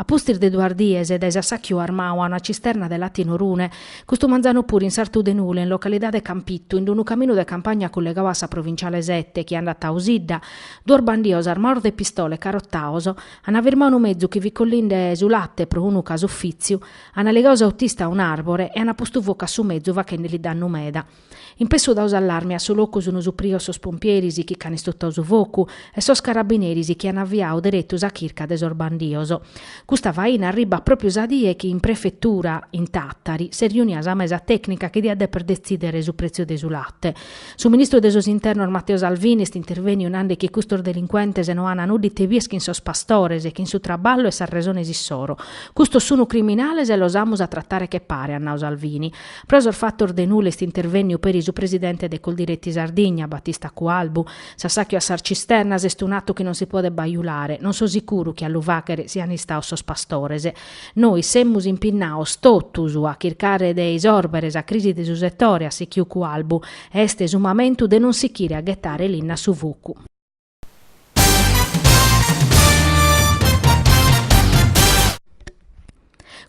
A pustis de duas dies dae s'assàchiu armau a una cisterna de late in Orune, custu manzanu puru in sartu de Nule in localidade Campitu in unu caminu de campagna cullegau a sa provinciale sete chi andat a Osidda, duos bandios armaos de pistola e carotaos ana firmau unu mezu chi fit collinde su late pro unu casufìtziu, ana ligau s'autista a un'àrbore e ana postu focu a su mezu fachende-li dannu meda. In pessu dau s'allarmi a su locu sunu suprios sos pompieris chi ch'an istutau su focu e sos carabineris chi an aviau deretu sa chirca de sos bandios. Custa faina arribat pròpiu sa die chi in prefetura, in Tàtari, s'est riunia sa mesa tècnica chi diat deper detzìdere su pretziu de su late. Su ministru de sos Internos Matteo Salvini est intervèniu nande chi custos delincuentes no an nudda ite bìer chin sos pastores, chin su traballu e sas resones issoro. Custos sunu criminales e los amus a tratare che pare, at nau Salvini. Pro sos fatos de Nule est intervènniu peri su presidente de Coldiretti Sardigna, Battista Cualbu. S'assàchiu a sas cisternas est un'atu chi non si podet bajulare. Non so sicuru chi a lu fàchere sian istaos sos pastores. Nois semus impinnaos totus a chircare de isòrbere sa crisi de su setore, at sichiu Cualbu, e est su mamentu de non sichire a ghetare linna a su focu.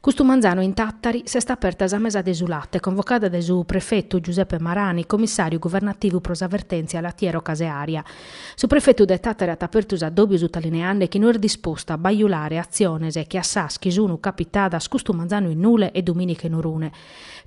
Custu manzanu in Tàtari s'est aperta sa mesa de su late convocada dae su prefetu Giuseppe Marani, comissàriu guvernativu pro sa vertèntzia latiero-caseària. Su prefetu de Tàtari at apertu s'addòbiu sutalineande chi no est dispostu a bajulare atziones che a sas chi sunu capitadas custu manzanu in Nule e Dumìnica in Orune,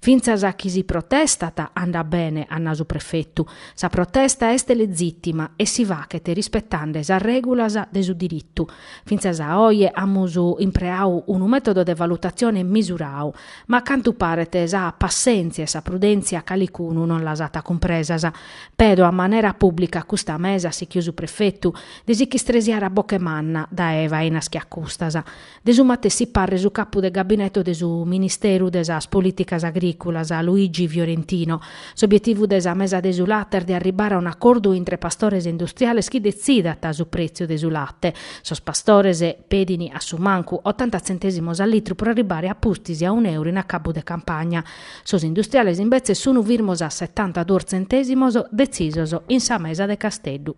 Fintzas a chi si protestat andat bene, at nau su prefetu. Sa protesta est legitima e si fachet rispetande sas regulas de su diritu. Fintzas a oje amus impreau unu metodo de valutatzione misurau, ma a cantu paret sa passentzia e sa prudentzia calicunu non las at cumpresas. Pedo a manera publica a custa mesa, at sichiu su prefetu, de si ch'istresiare a boche manna, dae fainas che a custas. De su matessi parre su capu de gabineto de su Ministeru de sas Polìticas Agrìculas, Luigi Fiorentino. S'obietivu de sa mesa de su late est de arribbare a un'acordu intre pastores e industriales chi detzidant su prètziu de su late. Sos pastores pedint a su mancu otanta tzentèsimos a litru pro arribbare a pustis a un'euru in acabu de campagna. Sos industriales imbetzes sunt firmos a setanta duos tzentèsimos detzisos in sa mesa de Casteddu.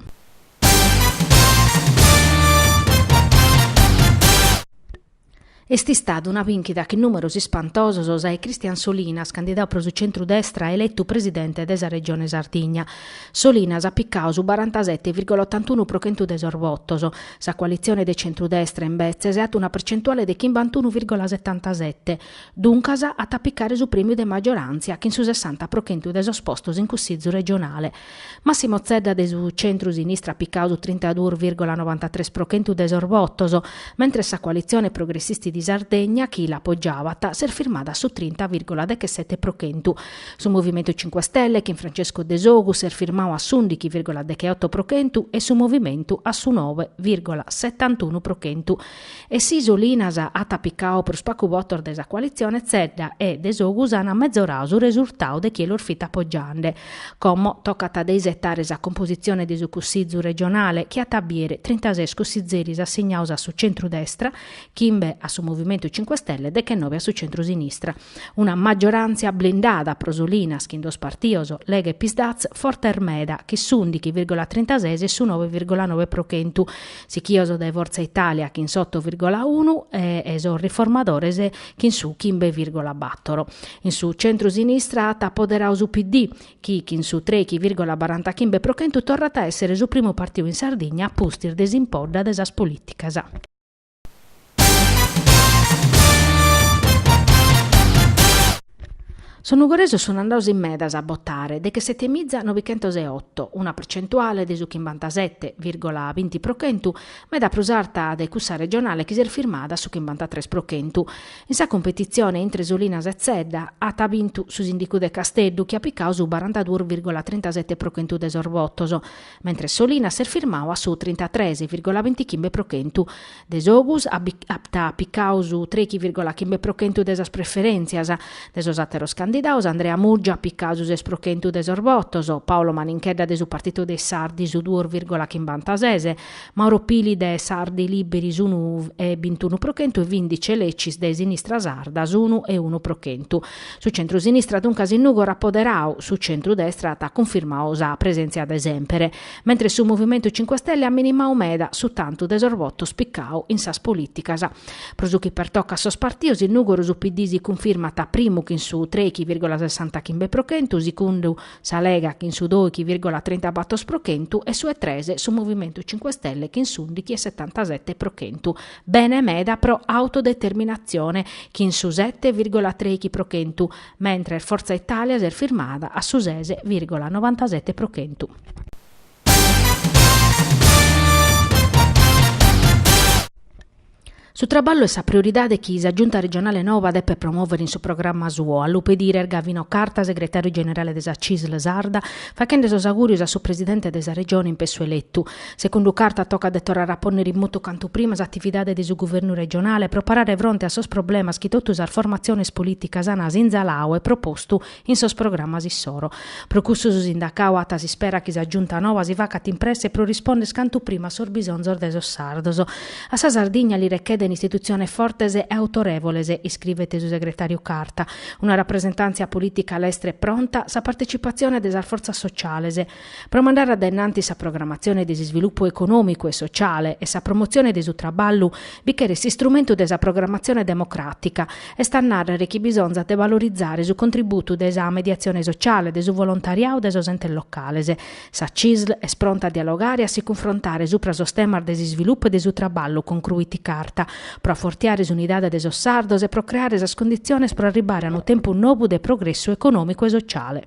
Est istada una bìnchida chin nùmeros ispantosos sa 'e Christian Solinas, candidau pro su centru-destra eletu presidente de sa Regione Sardigna. Solinas at picau su barantasete virgola otantunu pro chentu de sos votos. Sa coalitzione de centru-destra, imbetzes, at una percentuale de chimbantunu virgola setantasete. Duncas, at a picare su prèmiu de maggiorantzia chin su sessanta pro chentu de sos postos in Cussizu regionale. Massimo Zedda de su centru-sinistra at picadu trintaduus virgola novantatres pro chentu de sos votos, mentres sa Coalitzione Progressisti di Sardegna, chi l'apogiabat, s'est firmada a su trinta virgola dechesete pro chentu. Su Movimentu Cinque Stelle, chin Francesco Desogus, s'est firmadu a s'undighi virgola decheoto pro chentu e su Movimentu a su noe virgola setantunu pro chentu. E si Solinas at picau prus pacu votos de sa coalitzione, Zedda e Desogus an mezorau su resurtau de chie los fit apogiande. Como, tocat de isetare sa compositzione de su Cussizu regionale, chi at a biere trintases cussizeris assignaus a su centru-destra, chimbe a su Movimentu Cinque Stelle e dechenobe a su centru-sinistra. Una maggioràntzia blindada pro Solinas, chin duos partidos, Lega e PSd'Az, fortes meda, chin s'ùndighi virgola trintases e su nobe virgola nobe pro chentu, sichios dae Fortza Italia chin s'oto virgola unu e sos Riformadores chin su chimbe virgola bator. In su centru-sinistra at apoderadu su PD, chi chin su trechi virgola barantachimbe pro chentu torrat a èssere su primu partiu in Sardigna a pustis de s'impodda de sas polìticas. Sos nugoresos sun andados in medas a botare dechesete miza nobichentos e otto, una percentuale de su chimbantasete virgola binti pro chentu, meda prus arta de cussa regionale chi s'est firmada a su chimbantatres pro chentu. In sa cumpetitzione intre Solinas e Zedda at bintu su sindicu de Casteddu chi at picadu su barantaduos virgola trintasete pro chentu de sos votos, mentres Solinas s'est firmadu a su trintatres virgola bintichimbe pro chentu. Desogus at picau su trechi virgola chimbe pro chentu de sas preferentzias. De sos ateros candidaos, Andrea Murgia at picau su ses pro chentu de sos votos, Paolo Maninchedda de su Partito dei Sardi su duos virgola chimbantases, Mauro Pili de Sardi Liberi s'unu e bintunu pro chentu e Vindice Lecis de Sinistra Sarda s'unu e unu pro chentu. Su centru-sinistra duncas in Nugoro at poderau, su centru-destra at cunfirmau sa presentzia de semper. Mentres su Movimentu Cinque Stelle at minimau meda su tantu de sos votos picau in sas polìticas. Pro su chi pertocat sos partidos in Nùgoro su PD si cunfirmat primu chin su treighi vìrgola sessanta chimbe pro chentu, sigundu sa Lega chin su doighi vìrgola trinta bator pro chentu e su 'e tres su Movimentu Cinque Stelle chin s'undighi e setantasete pro chentu. Bene meda pro Autodeterminatzione chin su sete vìrgola treighi pro chentu. mentres Forza Italia s'est firmada a su ses vìrgola novantasete pro chentu. Su traballu est sa prioridade chi sa Giunta regionale nova depet promòvere in su programma suo, a lu pedire est Gavino Carta, segretàriu generale de sa CISL sarda, faghende sos augùrios a su presidente de sa Regione in pessu eletu. Segundu Carta tocat de torrare a pònnere in motu cantu prima s'atividade de su guvernu regionale pro parare fronte a sos problemas chi totu sas formatziones polìticas an asinzaladu e propostu in sos programas issoro. Pro cussu su sindacadu at s'ispera chi sa Giunta noba si facat in presse pro rispondere cantu prima a sos bisonzos de sos sardos. A sa Sardigna li rechedent istitutziones fortes e autorèvoles, iscrivet su segretàriu Carta, una rapresentàntzia polìtica lestra e pronta, sa partecipatzione de sas fortzas sotziales, Pro mandare a dae nanti sa programatzione de s'isvilupu econòmicu e sociale e sa promotzione de su traballu bi cheret s'istrumentu de sa programatzione democràtica, est a nàrrere chi bisonzat de valorizare su contributu de sa mediatzione sociale, de su volontariadu e de sos entes locales. Sa CISL est pronta a dialogare e a si cunfrontare supra sos temas de s'isvilupu e de su traballu, concruit Carta, pro afortiare s'unidade de sos sardos e pro creare sas conditziones pro arribare a unu tempus nobu de progressu econòmicu e sociale.